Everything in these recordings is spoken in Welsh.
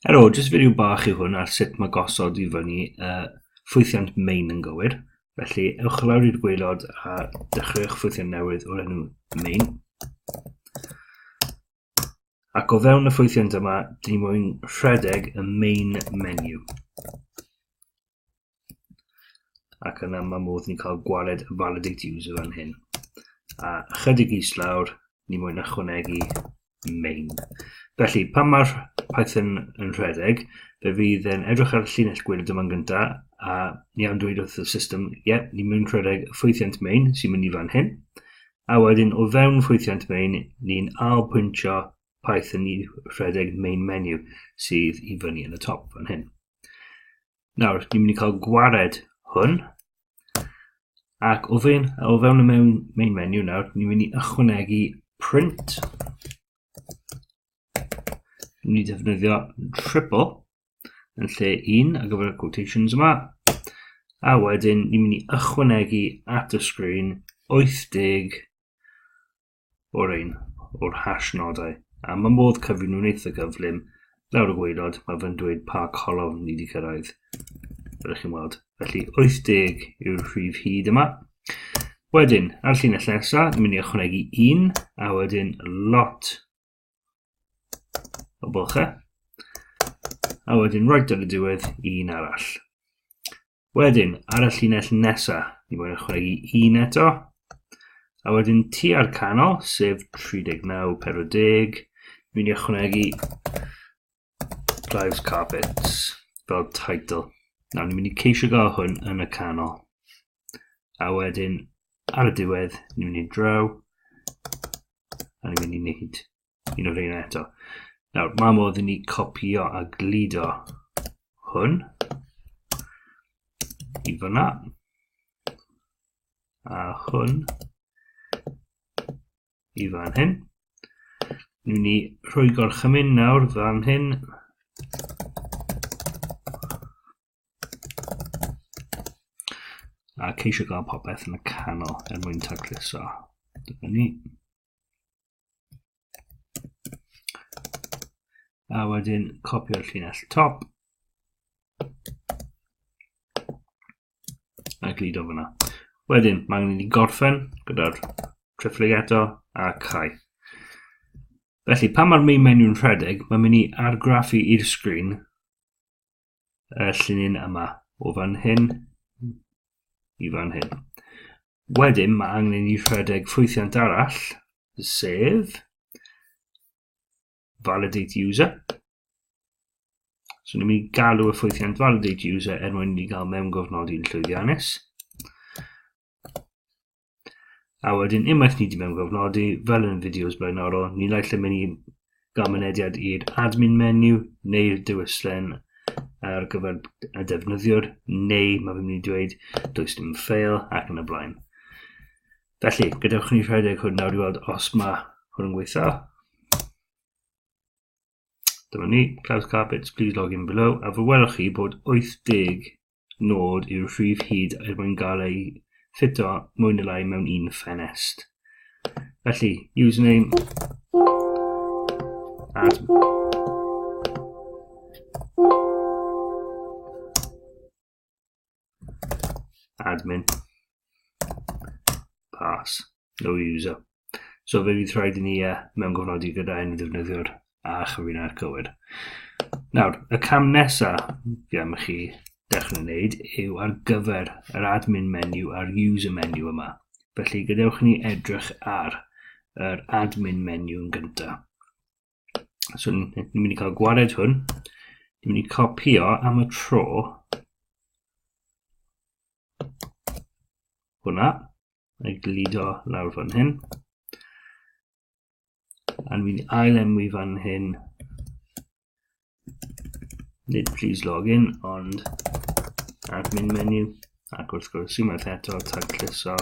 Helo, jyst fideo bach yw hwn ar sut mae gosod i fyny uh, ffwythiant main yn gywir. Felly, ewch lawr i'r gweilod a dechreuwch ffwythiant newydd o'r enw main. Ac o fewn y ffwythiant yma, dyn ni moyn rhedeg y main menu. ac yna mae modd ni'n cael gwared validate user fan hyn. A chydig is lawr, ni moyn ychwanegu main. Felly, pan mae'r Python yn rhedeg, fe fydd yn edrych ar y llinell gwyrdd yma'n gyntaf, a ni am dweud wrth y system, ie, yeah, ni mwyn rhedeg ffwythiant main sy'n mynd i fan hyn, a wedyn o fewn ffwythiant main, ni'n ail pwyntio Python i rhedeg main menu sydd i fyny yn y top fan hyn. Nawr, ni'n mynd i cael gwared hwn. Ac o fewn, o fewn y mewn, main menu nawr, ni'n mynd i ychwanegu print. Ni'n mynd i defnyddio triple yn lle un ar gyfer y quotations yma. A wedyn, ni'n mynd i ychwanegu at y sgrin 80 o'r un o'r hash nodau, a mae modd cyfri nhw'n eitha gyflym. Lawr y gwaelod, mae fe'n dweud pa colofn ni wedi cyrraedd. Fel chi'n weld. Felly 80 yw'r rhif hyd yma. Wedyn, ar llinell nesaf, ni'n mynd i ychwanegu un, a wedyn lot o bylchau. A wedyn roed ar y diwedd un arall. Wedyn, ar y llinell nesa, ni fod yn chwegu un eto. A wedyn tu ar canol, sef 39, 40, fi'n ychwanegu Drives Carpets fel title. Nawr, ni'n mynd i ceisio gael hwn yn y canol. A wedyn, ar y diwedd, ni'n mynd i draw. A ni'n mynd i wneud un o'r ein eto. Nawr, mae modd i ni copio a gludo hwn i fyna. A hwn i fan hyn. Ni'n ni rhoi gorchymyn nawr fan hyn. A ceisio gael popeth yn y canol er mwyn tacluso. Dyna ni. A wedyn copio'r llinell top. a gludo fyna. Wedyn, mae angen i ni gorffen gyda'r trifflig eto a cau. Felly, pan mae'r main menu'n rhedeg, mae'n mynd i argraffu i'r sgrin y llinyn yma, o fan hyn i fan hyn. Wedyn, mae angen i ni rhedeg ffwythiant arall, sef validate user. So ni'n mynd i galw y ffwythiant validate user er mwyn i gael mewn gofnodi'n llwyddiannus. A wedyn unwaith ni wedi mewn gofnodi, fel yn fideos blaenorol, ni lai lle mynd i gael mynediad i'r admin menu neu'r dewislen ar gyfer y defnyddiwr, neu mae fi'n mynd i dweud does dim ffeil ac yn y blaen. Felly, gadewch ni rhedeg hwn nawr i weld os mae hwn yn gweithio. Dyma ni, Cloud Carpets, please log in below, a fe welwch chi bod 80 nod yw'r rhif hyd er mwyn gael ei ffito mwy neu lai mewn un ffenest. Felly, username at admin pass no user so fe fydd rhaid i ni uh, mewn gofnodi gyda un ddefnyddiwr a chyfrinair cywir nawr y cam nesa fi am chi dechrau wneud yw ar gyfer yr admin menu a'r user menu yma felly gadewch ni edrych ar yr admin menu yn gyntaf So ni'n mynd i cael gwared hwn. Ni'n mynd i copio am y tro. Hwna. Mae glido lawr fan hyn. A ni'n mynd i ail enwi fan hyn. Nid please login, ond admin menu. Ac wrth gwrs, unwaith eto, tagluso.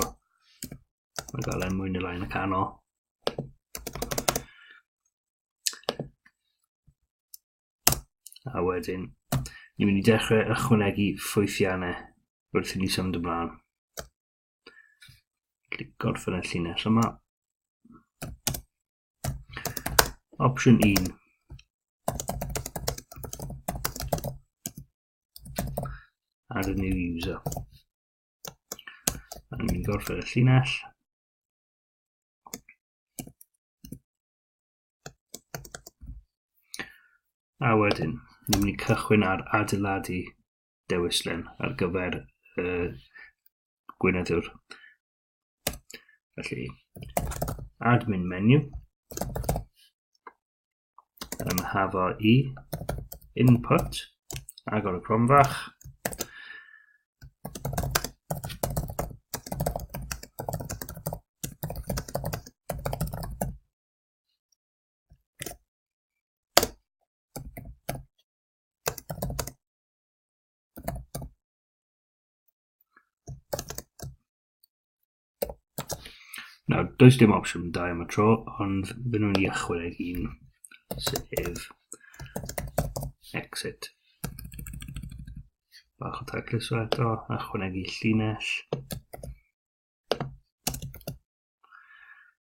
Mae gael enw yn y lain y canol. A wedyn, ni'n mynd i dechrau ychwanegu ffwythiannau wrth i ni symud ymlaen. Clic gorffen y llinell yma. Opsiwn 1. Add a new user. A ni'n mynd gorffen y llinell. A wedyn, ni'n mynd i cychwyn ar adeiladu dewislen ar gyfer y gweinyddiwr. Felly, admin menu. yn hafo i input agor y cromfach Nawr, does dim opsiwn da am y tro, ond fy nhw'n i achwyd ei hun, sef exit. Bach o tacluso eto, achwyd ei llinell.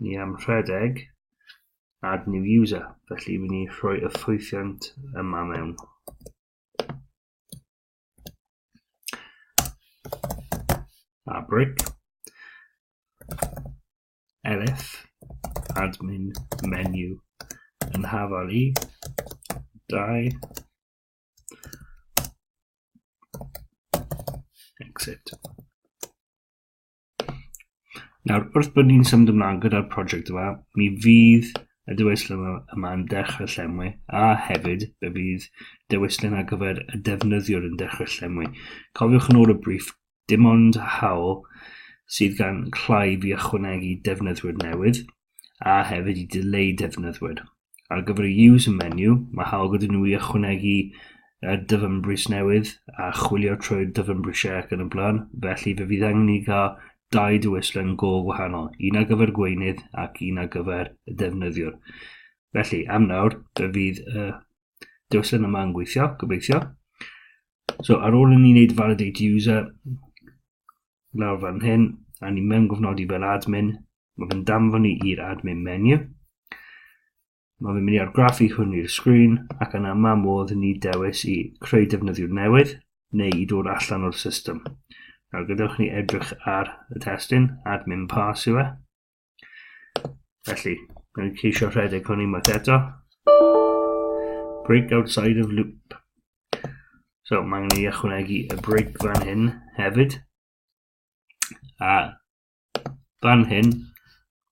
ni am rhedeg add new user, felly wy ni rhoi y ffwythiant yma mewn. A brick elf admin menu yn hafal i 2 Exit. Nawr, wrth bod ni'n symud ymlaen gyda'r prosiect yma, mi fydd y dewislen yma, yma yn dechrau llenwi, a hefyd fe fydd dewislen ar gyfer y defnyddiwr yn dechrau llenwi. Cofiwch yn ôl y briff, dim ond hawl sydd gan Clive i ychwanegu defnyddwyr newydd, a hefyd i dileu defnyddwyr. ar gyfer y User menu, mae hawl gyda nhw i ychwanegu y dyfynbris newydd a chwilio trwy'r dyfynbrisiau ac yn y blaen, felly fe fydd angen i gael dau dywyslen go gwahanol, un ar gyfer gweinydd ac un ar gyfer y defnyddiwr. Felly, am nawr, fe fydd y dywyslen yma yn gweithio, gobeithio. So, ar ôl i ni wneud validate user, Nawr fan hyn, a ni mewn gofnodi fel admin, mae fe'n danfon ni i'r admin menu. Mae fe'n mynd i argraffu hwn i'r sgrin ac yna mae modd ni dewis i creu defnyddiwr newydd neu i dod allan o'r system. Nawr gadewch ni edrych ar y testyn, admin pass yw e. Felly, rwy'n ceisio rhedeg hwn unwaith eto. Break outside of loop. So, mae angen i ychwanegu y break fan hyn hefyd. A fan hyn,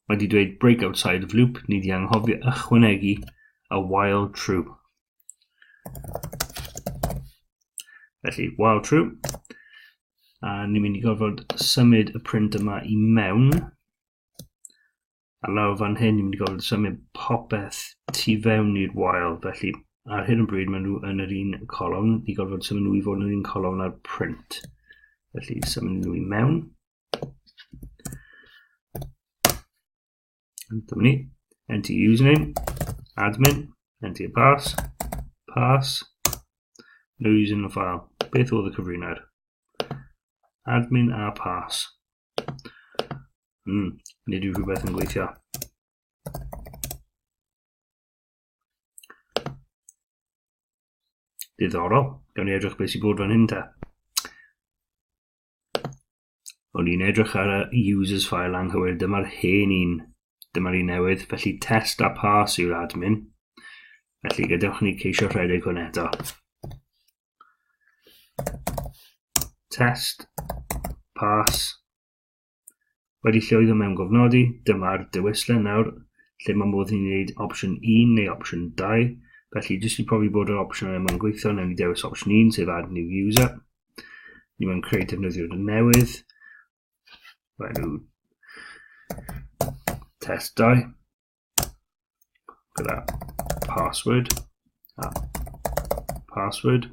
mae wedi dweud break outside of loop, ni wedi anghofio ychwanegu a while true. Felly, while true, a ni'n mynd i gorfod symud y print yma i mewn a lawr fan hyn ni'n mynd i gorfod symud popeth tu fewn i'r wael felly ar hyn o bryd maen nhw yn yr un colofn i gorfod symud nhw i fod yn yr un colofn ar print felly symud nhw i mewn Dyma ni. Enter your username. Admin. Enter your pass. Pass. No using the file. Beth oedd y cyfrinau'r? Admin a pass. Hmm, nid yw rhywbeth yn gweithio. Diddorol. Gawn ni edrych beth sy'n bod fan hyn ta. O'n i'n edrych ar y users file anghywir, dyma'r hen un, dyma'r un newydd, felly test a pass yw'r admin. Felly gadewch ni ceisio rhedeg hwn eto. Test, pass, Wedi llwyddo mewn gofnodi, dyma'r dewislen nawr lle mae modd i ni wneud opsiwn 1 neu opsiwn 2. Felly, jyst i profi bod yr opsiwn yma'n gweithio, newn ni dewis opsiwn 1, sef Add New User. Ni mewn creu defnyddiwr newydd. Mae nhw test 2 gyda password a password.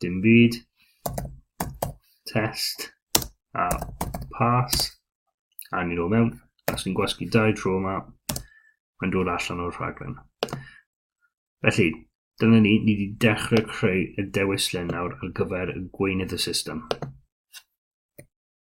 Dim byd. Test. A pass. A ni ôl mewn. Os ni'n gwasgu dau tro yma, mae'n dod allan o'r rhaglen. Felly, dyna ni, ni wedi dechrau creu y dewislen nawr ar gyfer gweinydd y system.